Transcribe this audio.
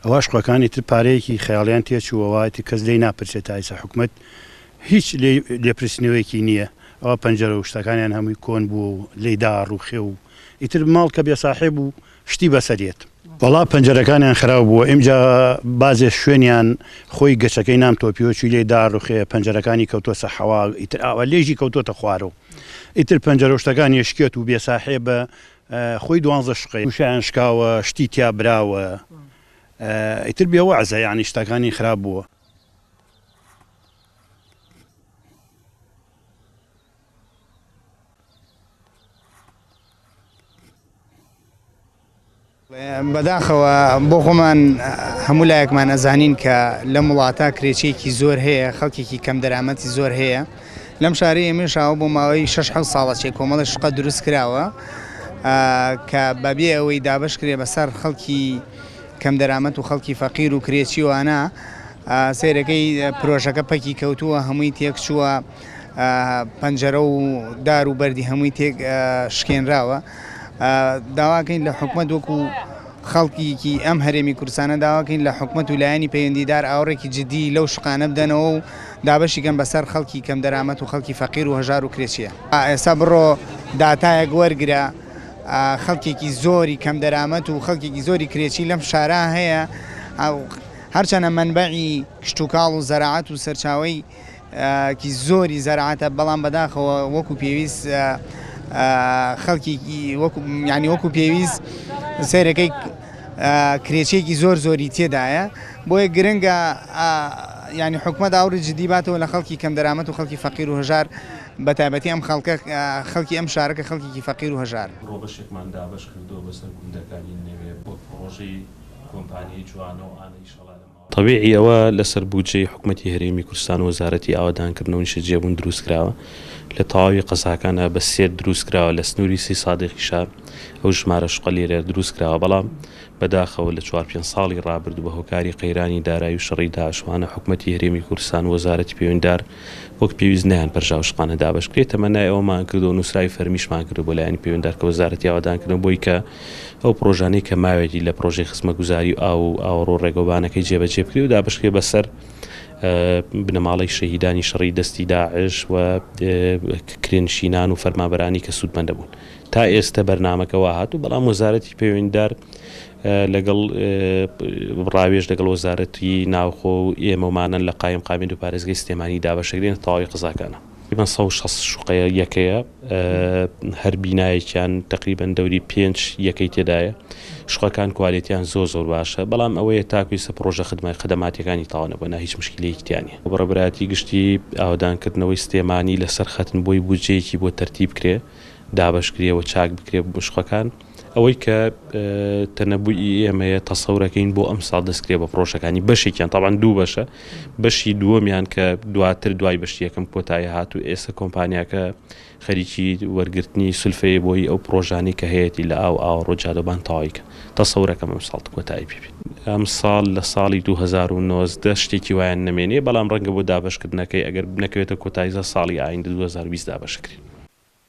ئەوە شقەکانی تر پارەیەکی خەیاڵیان تێچووەوەتی کەس لی ناپرسێت تایسە حکومت هیچ لێپرسنەوەیەکی نییە ئەوە پەنجەرە و شتەکانیان هەمووی کۆن بوو و لی داڕوخێ و ئیتر ماڵ کە بێ ساحێب و شتی بەسەر یەت. وەڵا پەنجەرەکانیان خراو بووە ئیمجا بازێ شوێنیان خۆی گەچەکەی نان تۆپیۆچی لێ دا ڕوخێ پەنجەرەکانی کەوتۆسە حەوا ئیتر ئاوا لێژی کەوتۆتە خوارۆ ئیتر پەنجەرەو شتەکان یش کێت و بێ ساحێبە خۆی دوانزە شقەی وشیان شکاوە شتی تیا براوە ئیتر بێ وەعزە یانی شتەکانی خراپ بووە. بەداخەوە بۆ خۆمان هەموو لایەکمان ئەزانین کە لەم وڵاتە کرێچێکی زۆر هەیە خەڵکێکی کەم دەرامەتی زۆر هەیە لەم شاری ئێمەشاوە بۆ ماوەی 6 ساڵە چێ کۆمەڵە شقە دروست کراوە کە بەبێ ئەوەی دابش کرێ بەسەر خەڵکی کەم دەرامەت و خەڵکی فەقیر و کرێچیوانە سێرەکەی پرۆژەکە پەکی کەوتووە هەمووی تێکچووە پەنجەرە و دار و بەردی هەمووی تێک شکێنراوە داواکەین لە حکومت وەکو خەڵکیکی ئەم هەرێمی کوردستانە داواکەین لە حکومت و لایەنی پەیوەندیدار ئاوڕێکی جددی لەو شقانە بدەنەوە و دابەشیکەن بەسەر خەڵکی کەم دەرامەت و خەڵکی فەقیر و هەژار و کرێچیە ئێستا بڕۆ داتایەک وەرگرە خەڵکێکی زۆری کەم دەرامەت و خەڵکێکی زۆری کرێچی لەم شارە هەیە هەرچەنە منبعی کشتتوکاڵ و زەراعات و سەرچاوی کی زۆری زەرعاتە بەڵام بەداخەوە وەکو پێویست خەڵکیکی وەکو یعنی وەکو پێویست سەیرەکەی کرێچێکی زۆر زۆری تێدایە بۆیە گرنگە ینی حکومە داوری جدی باتەوە لە خەڵکی کەم دەرامەت و خەڵکی فەقیر و هەژار بە تایبەتی ئەم خەڵکە خەڵکی ئەم شارەکە خەڵکیکی فەقیر و هەژار ڕۆبەشێکمان دابەش کردووە بەسەر گوندەکانی نەوێ بۆ پڕۆژەی کۆمپانیای جوانە و ئانە ئیشەڵا لە تەبیعی ئەوە لەسەر بودجەی حکومەتی هەرێمی کورستان و وەزارەتی ئاوەدانکردن و نیشتەجێبوون دروستکراوە، لە تەواوی قەزاکانا بە سێت دروستکراوە، لە سنووری سی سادیقیشا ئەو ژمارە شقەلێرە دروستکراوە، بەڵام بەداخەوە لە چوار پێنج ساڵی ڕابردوو بە هۆکاری قەیرانی دارایی و شەڕی داعشوانە حکومەتی هەرێمی کورستان و وەزارەتی پەیوەندیدار وەک پێویست نەیانپەرژا و شقانە دابەش بکرێت، تەمەنای ئەوەمان کردووە و نووسراوی فەرمیشمان کردووە بۆ لایەنی پەیوەندار کە وەزارەتی ئاوەدان کردن بۆی کە ئەو پڕۆژانەی کە ماوێتی لە پڕۆژەی خزمەتگوزاری و ئاو و ئاوەڕۆ ڕێگەوبانەکەی جێبەجێ بکرێ و دابەش کرێ بەسەر بنەماڵەی شەهیدانی شەڕی دەستی داعش و کرێنشینان و فەرمانبەرانی کە سوودمەند دەبوون. تا ئێستە بەرنامەکە وا هاتوو، بەڵام وەزارەتی پەیوەندیدار لەگەڵ ڕاوێژ لەگەڵ وەزارەتی ناوخۆ و ئێمە و مانەن لە قایمقامیەت و پارێزگەی سلێمانی دابەشەکرێنە تەواوی قەزاکانە. تەقریبەن سەد و شەست شوقەیە یەکەیە هەر بینایەکیان تەقریبەن دەوری پێنج یەکەی تێدایە شوقەکان کوالێتیان زۆر زۆر باشە بەڵام ئەوەیە تاکو ئیستا پڕۆژە خدمە خدماتیەکانی تەواو نەبوە نا هیچ مشکیلەیەکی تیا نیە. بەڕێوەبەرایەتی گشتی ئاوەدان کردنەوەی سلێمانی لەسەر خەتن بۆی بودجەیەکی بۆ تەرتیب کرێ دابەش کرێ و چاک بکرێ شوقەکان. ئەوەی کە تەنەبوویی ئێمەیە تەسەورەکەین بۆ ئەم ساڵ دەستکرێ بە پرۆژەکانی بەشێکیان تاوان دوو بەشە بەشی دووەمیان کە دواتر دوای بەشتی یەکەم کۆتایی هات و ئێستا کۆمپانیاکە خەریکی وەرگرتنی سلفەیە بۆی ئەو پرۆژانەی کە هەیەی لە ئاو ئاوە ڕۆجادەبان تەواویکە تەسەورەکەم ئەم ساڵ کۆتایی پێ ئەم ساڵ لە ساڵی 2019 شتێکی وایان نەمێنێ بەڵام ڕەنگە بۆ دابەشکردنەکەی ئەگەر بنەکەوێتە کۆتاییزە ساڵی ئایندە 2020 دابەشکرێت.